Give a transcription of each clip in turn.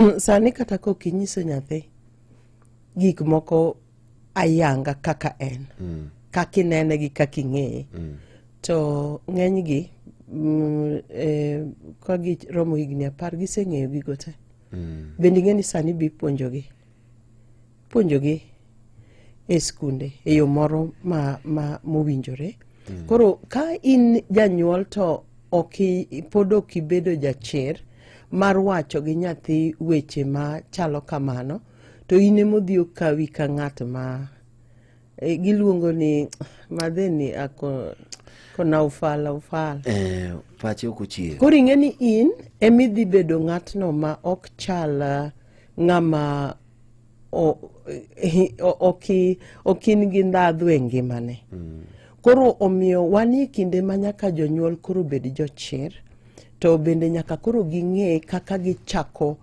Sani kata ka ok inyiso nyathi gik moko ayanga kaka en mm. kaka inene gi kaka ing'eye mm. to ng'enygi mm, eh, ka giromo higni apar giseng'eyo gigo te mm. bende ing'e ni sani bipuonjogi puonjogi e skunde e yo moro ma, ma mowinjore mm. koro ka in janyuol to ok pod ok ibedo jachir mar wacho gi nyathi weche ma chalo kamano to in emodhi okawi ka ng'at ma e, giluongo ni madheni ako kona ufala ufala e, pache ok ochier koro ing'e ni in emidhi bedo ng'atno ma ok chal ng'ama ok in gi ndhadhu e ngimane mm. koro omiyo wan e kinde ma nyaka jonyuol koro bed jochir to bende nyaka koro ging'e kaka gichako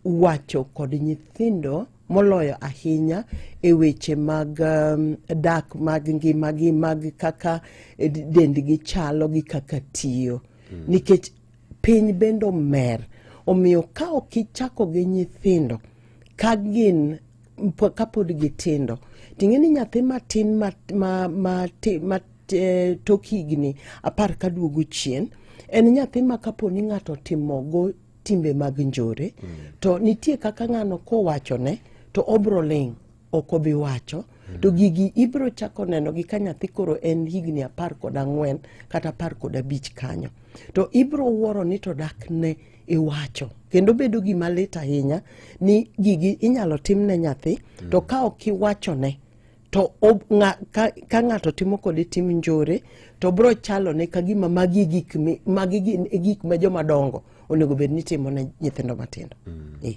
wacho kod nyithindo moloyo ahinya e weche mag um, dak mag ngimagi mag kaka eh, dendgi chalo gi kaka tiyo mm. nikech Piny bende omer. Omiyo ka ok ichako gi nyithindo ka gin kapod gitindo ting'e ni nyathi matin ma, ma, ma, ma e, tok higni apar ka duogo chien en nyathi ma kapo ni ng'ato otimogo timbe mag njore mm. to nitie kaka ng'ano kowachone to obro ling' ok obi wacho to gigi ibiro chako nenogi ka nyathi koro en higni apar kod ang'wen kata apar kod abich kanyo to ibiro wuoro ni to dak ne iwacho kendo bedo gima lit ahinya ni gigi inyalo tim ne nyathi to ka ok iwachone to ob- nga- ka- ka ng'ato timo kode tim njore to biro chalo ne ka gima magi e gik mi- magi gin e gik ma joma dongo onego bed ni timo ne nyithindo matindo Eh.